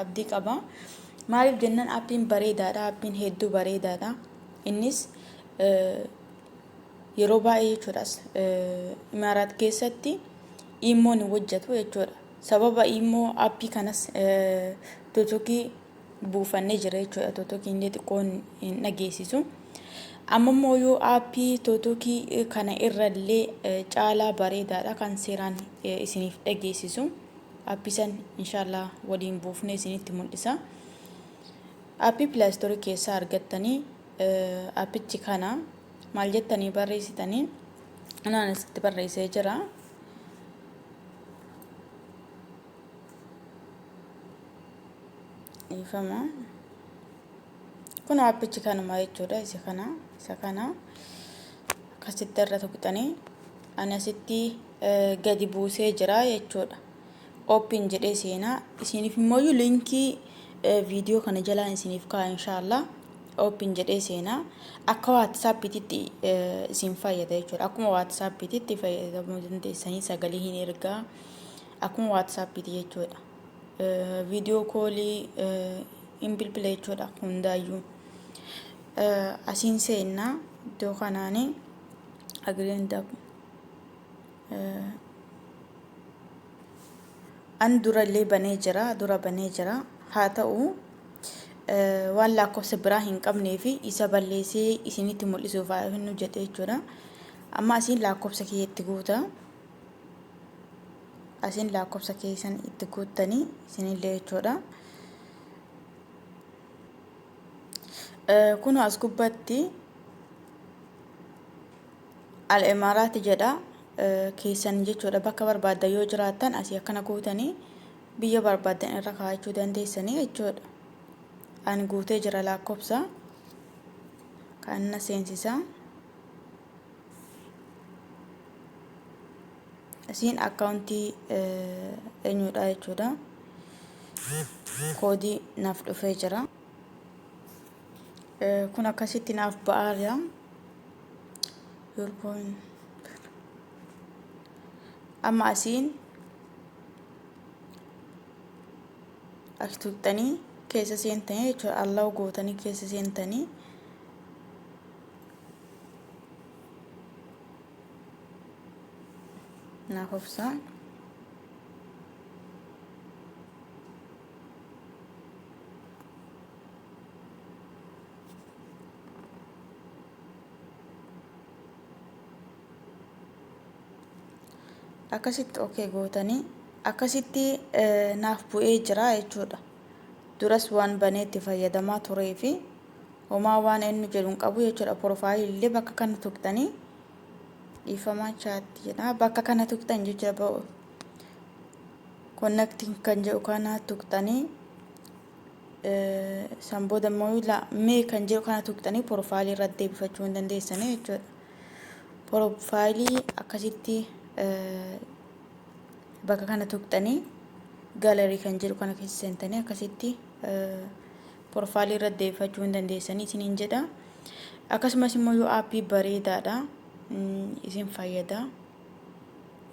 abdii qaba. Maaliif jennan appiin bareedaadha. Appiin hedduu bareedaadha. Innis yeroo baay'ee jechuudhaas imaaraat keessatti iimmoon hin hojjetu jechuudha. Sababa iimmoo appii kanas totokii buufannee jira jechuudha. Totokii illee xiqqoon hin dhageessisu. Amma immoo yoo appii totokii kana irrallee caalaa bareedaadha kan seeraan isiniif dhageessisu. App san inshallah waliin buufnee isinitti mul'isa. App play store keessaa argattanii appichi kana maal jettanii barreessitanii anaan asitti barreessee jira. Ifama. kun aappichi kanuma jechuudha isa kana isa kana akkasitti irra tuqxanii ani asitti gadi buusee jira jechuudha oopin jedhee seenaa isiniif immoo linkii viidiyoo kana jalaan isiniif kaa'a inshaallah oopin jedhee seenaa akka waatsaappiititti isin fayyada jechuudha akkuma waatsaappiititti fayyadamuu dandeessanii sagalee hin ergaa akkuma waatsaappiiti jechuudha viidiyoo koolii hin bilbila jechuudha hundaayyuu asiin seennaa iddoo kanaani agreenta an durallee banee jira dura banee jira haa ta'u waan lakkoofsa biraa hin qabnee fi isa balleessee isinitti mul'isuuf haa jennu jedhe jechuudha amma asiin lakkoofsa kiyya itti guuta asiin laakkofsa keessan itti guuttanii isinillee jechuudha. Kun as gubbatti al-imaaraati jedha keessan jechuudha bakka barbaaddan yoo jiraattan asii akkana guutanii biyya barbaaddan irra kaa'achuu dandeessanii jechuudha. Ani guutee jira laakkofsa kan na seensisaa. isiin akkaawuntii eenyuudha jechuudha koodii naaf dhufee jira kun akkasitti naaf ba'aa jira amma asiin as tuqxanii keessa seentanii jechuudha allaa'u gootanii keessa seentanii naaf obsaa akkasitti ok gootanii akkasitti naaf bu'ee jira jechuudha duras waan banee itti fayyadamaa turee fi homaa waan eenyu jedhu hin qabu jechuudha porofaayilillee bakka kana tuqxanii dhiifamaa chaatti jedha bakka kana tuqxan jechuudha ba'u konnektiin kan jedhu kana tuqxanii san booda immoo la- mee kan jedhu kana tuqxanii porofaayilii irratti deebifachuu hin dandeessanii jechuudha porofaayilii akkasitti eh, bakka kana tuqxanii gaalarii kan jedhu kana keessa seentanii akkasitti porofaalii irratti deebifachuu hin dandeessanii isiniin jedha akkasumas immoo yoo aappii bareedaadha isin fayyada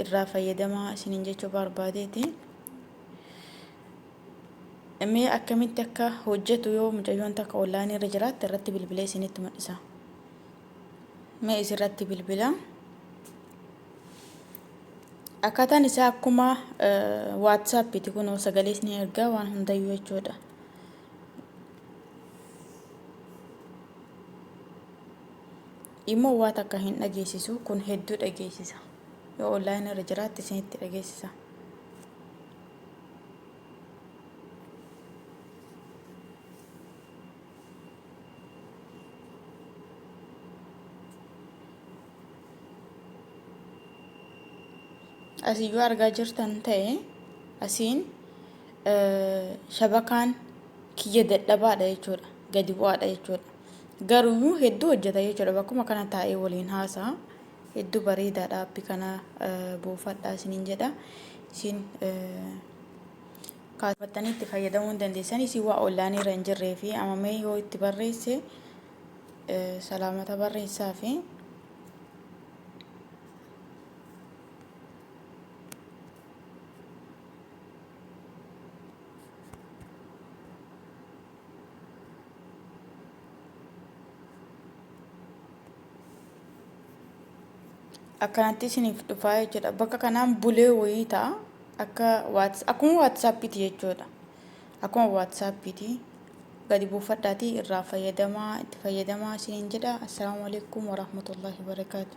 irraa fayyadamaa isiniin jechuu barbaadeeti mee akkamitti akka hojjetu yoo mucayyoon takka onlaayinii irra jiraatte irratti bilbilee isinitti mul'isa mee isirratti bilbila Akkaataan isaa akkuma waatsaappiiti kunoo sagalees ni ergaa waan hundayyuu jechuudha. Immoo waa takka hin dhageessisu kun hedduu dhageessisa. Yoo onlaayinii irra jiraatte isinitti dhageessisa. Asii yoo argaa jirtan ta'e asiin shabakaan kiyya dadhabaadha jechuudha. Gadi bu'aadha jechuudha. Garuu hedduu hojjeta jechuudha. Bakkuma kana taa'ee waliin haasa'a. Hedduu bareedaadha appi kana buufadha isiniin jedha. Isin kaasfattanii itti fayyadamuu hin dandeessan. Isin waa ollaaniirra hin jirree fi amamee yoo itti barreesse salaamata barreessaa fi akkanatti isiniif dhufaa jechuudha bakka kanaan bulee wayii ta'a akka waats akkuma waatsaappiiti jechuudha Akkuma WhatsApp ti. Gadi buufadhaatii irraa fayyadamaa itti fayyadamaa isiniin jedha. Assalaamu alaikum warahmatullahi wabarakaatu.